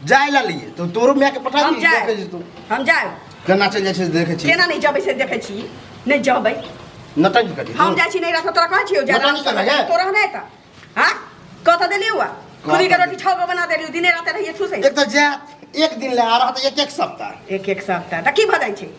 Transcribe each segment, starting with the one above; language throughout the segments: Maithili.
जाय ला लिए तो तोरो माय के पठा हम दी जाए देखे छी तू हम जाए केना चल जाय छै से देखे छी केना नहीं जबै से देखे छी नहीं जबै नटंकी करी हम जाए छी नहीं रात तोरा कहै छियो जा बताओ रात केना जाए? तोरा नहीं त हां कत देली हुआ खुदी के रोटी छौ गो बना देली दिने रात रहिए ठुसै एक तो जात एक दिन ले आ रहा था एक एक सप्ताह एक एक सप्ताह त की भ जाय छै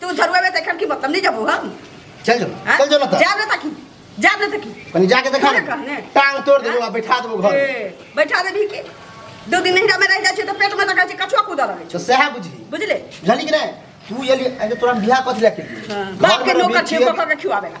तू झरुआ में देखन की मतलब नहीं जबू हम चल जो हाँ? चल जो ना जा ले तकी जा ले तकी कनी जाके देखा अरे कहने। टांग तोड़ देबो आ बैठा देबो घर ए, बैठा देबी की दो दिन नहिरा में रह जाय छै त पेट में तका छै कछुआ कूदा रहै तो सह बुझी छै बुझले जानी कि नहीं तू ये लिए अरे तोरा बियाह कथि लेके हां बाप के नौकर छै बखा के खिवावेला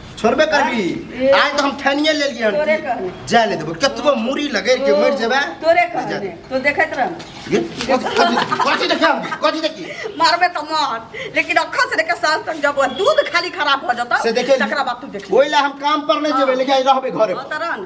छोड़बे करबी आज तो हम ठानिए ले लिए तोरे कहने। जाए ले देबो कतबो मूड़ी लगे के मर जेबे तोरे कहने तो देखत रह ये कथी देखा कथी देखी मारबे तो मार लेकिन अखन से लेके साल तक जब दूध खाली खराब हो जाता से देखे तकरा बाद तू देख ओइला हम काम पर नहीं जेबे लेकिन आज रहबे घरे पर। तरन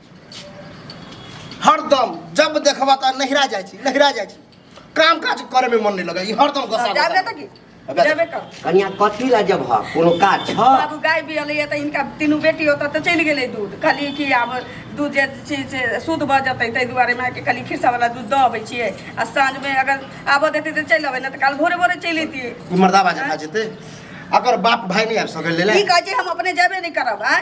हरदम जब देखबा त नहिरा जाइ छी नहिरा जाइ छी काम काज करे में मन नहीं लगा ई हरदम गोसा जाबे गोसा। त की अबे। जाबे कर कनिया कथी ला जब ह कोनो काज छ बाबू गाय भी अलै त इनका तीनू बेटी होता त चलि गेलै दूध कहली कि आब दूध जे छै से शुद्ध भऽ जेतै ताहि दुआरे माँ के कहली खिरसावला दूध दऽ अबै छियै आ साँझमे अगर आबऽ देतै तऽ चलि अबै नहि तऽ काल्हि भोरे भोरे चलि अयतियै ई मर्दाबा जका जेते अगर बाप भाई नहीं आबि सकल ले ई कहै छै हम अपने जेबे नहि करब आँय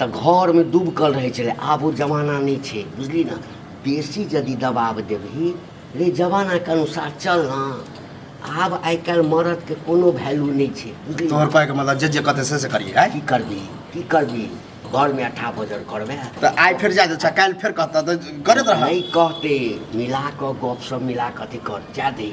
तऽ घरमे डुबकल रहै छलै आब ओ जमाना नहि छै बुझली ने बेसी यदि दबाब देबही रे जमानाके अनुसार चल ने आब आइ काल्हि मरदके कोनो वैल्यू नहि छै बुझली तोहर कहैके मतलब जे जे कहतै से से करिए आइ की करबी की करबी घरमे अठा बजर करबै तऽ आइ फेर जा दे काल्हि फेर कहतऽ तऽ करैत रह नहि कहते मिला कऽ गपशप मिला कऽ अथी कर जा दही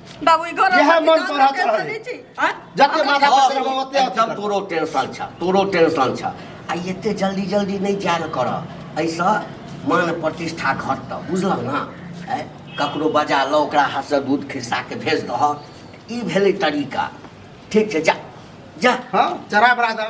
बाबू ई घर इएह मन पर हाथ रहल। जते माथा पर तेरे बाबा ओते अथी एकदम कर। तोरो टेंशन छ तोरो टेंशन छ आ एते जल्दी जल्दी नहीं जायल कर ऐसा मान प्रतिष्ठा घटत बुझल ना ऐ ककरो बजा ल ओकरा हाथ से दूध खिस्सा के भेज दह ई भेलै तरीका ठीक छै जा जा हाँ चरा बरादर